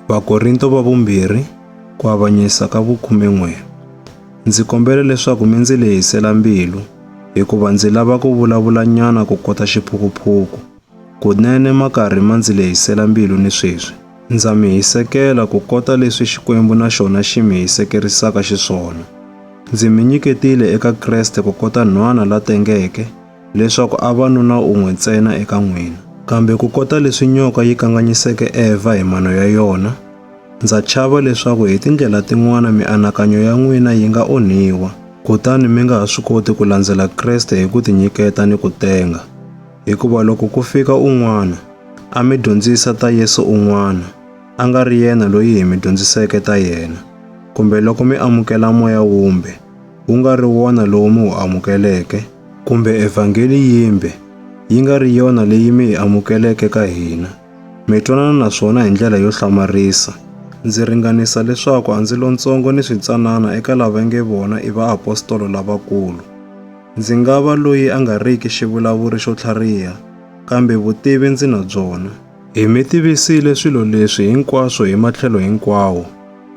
Vakorinto va vumbirhi ku avanyisa ka vukhume n'we. Ndzi kombela leswaku mi ndzi lehisela mbilu hikuva ndzi lava ku vulavula nyana ku kota xiphukuphuku. Kunene ma karhi ma ndzi lehisela mbilu ni sweswi. Ndza mi hisekela ku kota leswi Xikwembu na xona xi mi hisekerisaka xiswona. Ndzi mi nyiketile eka Kreste ku kota nhwana la tengeke leswaku a va nuna un'we ntsena eka n'wina. Kambe ku kota leswi nyoka yi kanganyiseke Evha hi mano ya yona, ndza chava leswaku hi tindlela tin'wana mianakanyo ya n'wina yi nga onhiwa, kutani mi nga ha swi koti ku landzela Kreste hi ku tinyiketa ni ku tenga. Hikuva loko ku fika un'wana, a mi dyondzisa ta Yesu un'wana, a nga ri yena loyi hi mi dyondziseke ta yena, kumbe loko mi amukela moya wumbe, wu nga ri wona lowu mi wu amukeleke, kumbe evhangeli yimbe yi nga ri yona leyi mi yi amukeleke ka hina, mi twanana na swona hi ndlela yo hlamarisa, ndzi ringanisa leswaku a ndzi lontsongo ni switsanana eka lava nge vona i vaapostolo lavakulu. Ndzi nga va loyi a nga riki xivulavuri xo tlhariha, kambe vutivi ndzi na byona. Hi mi tivisile swilo leswi hinkwaswo hi matlhelo hinkwawo,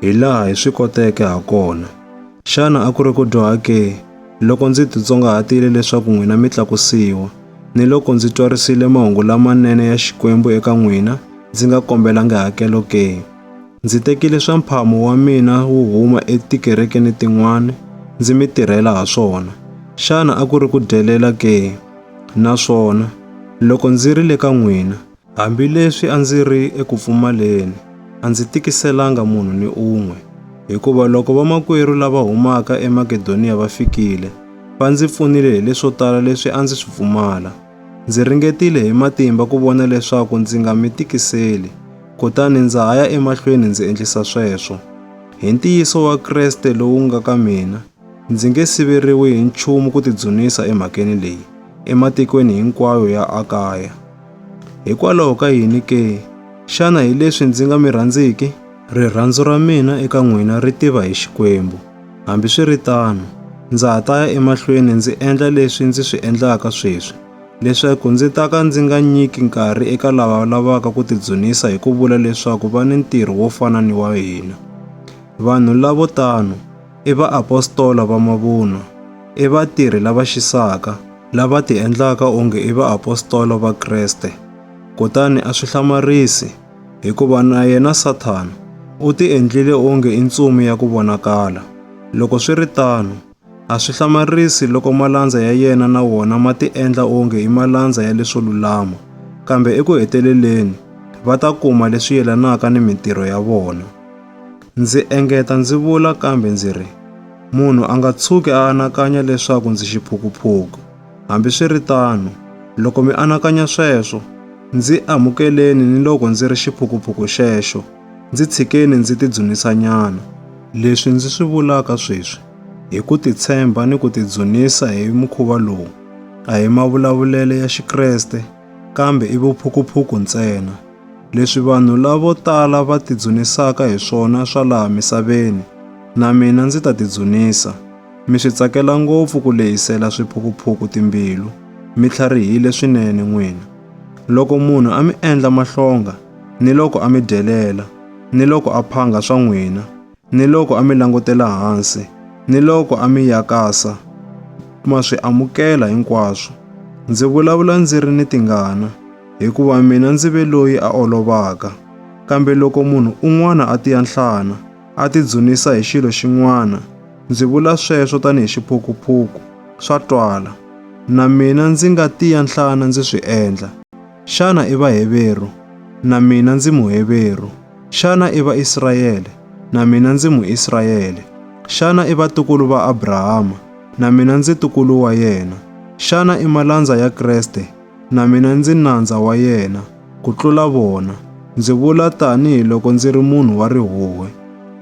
hi laha hi swi koteke ha kona. Xana a ku ri ku dyoha ke, loko ndzi titsongahatile leswaku n'wina mi tlakusiwa, ni loko ndzi twarisile mahungu lamanene ya Xikwembu eka n'wina, ndzi nga kombelangi hakelo ke? Ndzi tekile swa mphamu wa mina wo huma etikerekeni tin'wana, ndzi mi tirhela ha swona. Xana a ku ri ku dyelela ke? Naswona, loko ndzi ri le ka n'wina, Hambileswi a ndzi ri eku pfumaleni, a ndzi tikiselanga munhu ni un'we, hikuva loko vamakwerhu lava humaka eMakedoniya va fikile, va ndzi pfunile hi leswo tala leswi a ndzi swi pfumala. Ndzi ringetile hi matimba ku vona leswaku ndzi nga mi tikiseli, kutani ndza ha ya emahlweni ndzi endlisa sweswo. Hi ntiyiso wa Kreste lowu nga ka mina, Ndzi nge siveriwi hi nchumu ku tidzunisa emhakeni leyi ematikweni hinkwayo ya Akaya. Hikwalaho ka yini ke? Xana hi leswi ndzi nga mi rhandziki? Rirhandzu ra mina eka n'wina ri tiva hi Xikwembu. Hambiswiritano, ndza ha ta ya emahlweni ndzi endla leswi ndzi swi endlaka sweswi, leswaku ndzi ta ka ndzi nga nyiki nkarhi eka lava lavaka ku tidzunisa hi ku vula leswaku va ni ntirho wo fana ni wa hina. Vanhu lavo tano i vaapostola va mavunwa, i vatirhi lava xisaka, lava ti endlaka onge i vaapostola va Kreste. Kutani a swi hlamarisi, hikuva na yena Sathana u ti endlile onge i ntsumi ya ku vonakala. Loko swi ri tano, a swi hlamarisi loko malandza ya yena na wona ma ti endla onge i malandza ya leswo lulama, kambe eku heteleleni va ta kuma leswi yelanaka ni mintirho ya vona. Ndzi engeta ndzi vula kambe ndzi ri, Munhu a nga tshuki a anakanya leswaku ndzi xiphukuphuku. Hambiswiritano, loko mi anakanya sweswo, ndzi amukeleni ni loko ndzi ri xiphukuphuku xexo, ndzi tshikeni ndzi tidzunisanyana. Leswi ndzi swi vulaka sweswi hi ku titshemba ni ku tidzunisa hi mukhuva lowu a hi mavulavulelo ya Xikreste kambe i vuphukuphuku ntsena. Leswi vanhu lavo tala va tidzunisaka hi swona swa laha misaveni, na mina ndzi ta tidzunisa. Mi swi tsakela ngopfu ku lehisela swiphukuphuku timbilu, mi tlharihile swinene n'wina. Loko munhu a mi endla mahlonga, ni loko a mi dyelela, ni loko a phanga swa n'wina, ni loko a mi langutela hansi, ni loko a mi yakasa, ma swi amukela hinkwaswo. Ndzi vulavula ndzi ri ni tingana, hikuva mina ndzi ve loyi a olovaka. Kambe loko munhu un'wana a tiya nhlana, a tidzunisa hi xilo xin'wana, ndzi vula sweswo tanihi xiphukuphuku, swa twala. Na mina ndzi nga tiya nhlana ndzi swi endla. Xana i Vaheveru? Na mina ndzi Muheveru. Xana i Vaisrayele? Na mina ndzi Muisrayele. Xana i vatukulu va Abrahama? Na mina ndzi tukulu wa yena. Xana i malandza ya Kreste? Na mina ndzi nandza wa yena, ku tlula vona. Ndzi vula tanihi loko ndzi ri munhu wa rihuwe.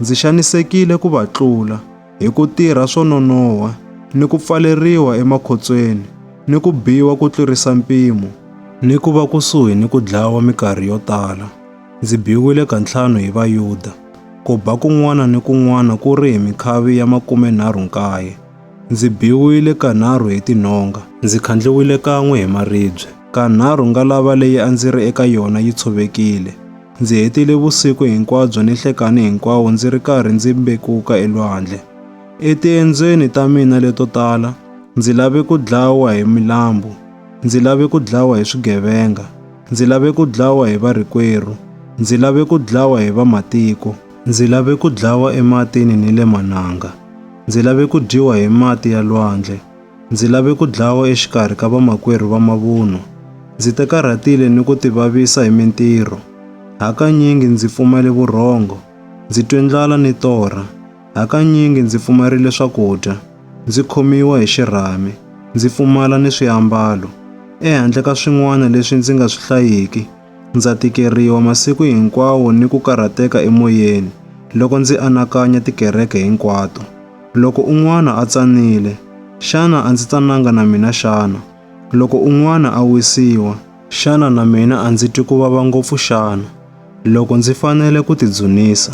Ndzi xanisekile ku va tlula, hi ku tirha swo nonoha, ni ku pfaleriwa emakhotsweni, ni ku biwa ku tlurisa mpimo, ni ku va kusuhi ni ku dlawa minkarhi yo tala. Ndzi biwile kantlhanu hi Vayuda. Ku ba kun'wana ni kun'wana ku ri hi mikhavi ya makumenharhu-nkaye. Ndzi biwile kanharhu hi tinhonga. Ndzi khandliwile kan'we hi maribye. Kanharhu ngalava leyi a ndzi ri eka yona yi tshovekile. Ndzi hetile vusiku hinkwabyo ni nhlekani hinkwawo ndzi ri karhi ndzi mbekuka elwandle. Etiendzweni ta mina leto tala, ndzi lave ku dlawa hi milambu. Ndzi lave ku dlawa hi swigevenga. Ndzi lave ku dlawa hi varikwerhu, ndzi lave ku dlawa hi vamatiko. Ndzi lave ku dlawa ematini ni le mananga, ndzi lave ku dyiwa hi mati ya lwandle, ndzi lave ku dlawa exikarhi ka vamakwerhu va mavunwa. Ndzi te karhatile ni ku tivavisa hi mintirho, hakanyingi ndzi pfumale vurhongo, ndzi twe ndlala ni torha. Hakanyingi ndzi pfumarile swakudya, ndzi khomiwa hi xirhami, ndzi pfumala ni swiambalo. Ehandle ka swin'wana leswi ndzi nga swi hlayiki, ndza tikeriwa masiku hinkwawo ni ku karhateka emoyeni loko ndzi anakanya tikereke hinkwato. Loko un'wana a tsanile, xana a ndzi tsananga na mina xana? Loko un'wana a wisiwa, xana na mina a ndzi twi ku vava ngopfu xana? Loko ndzi fanele ku tidzunisa,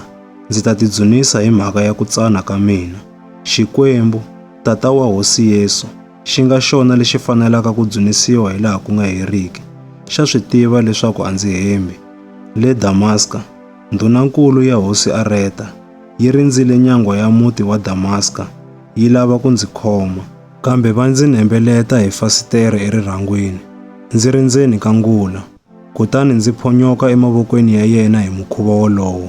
ndzi ta tidzunisa hi mhaka ya ku tsana ka mina. Xikwembu, Tata wa Hosi Yesu, xi nga xona lexi fanelaka ku dzunisiwa hi laha ku nga heriki, xa swi tiva leswaku a ndzi hembi. Le Damaska, ndhunankulu ya Hosi Areta yi rindzile nyangwa ya muti wa Damaska yi lava ku ndzi khoma, kambe va ndzi nembeleta hi fasitere erirhangwini ndzi ri ndzeni ka ngula. Kutani ndzi phonyoka emavokweni ya yena hi mukhuva wolowo.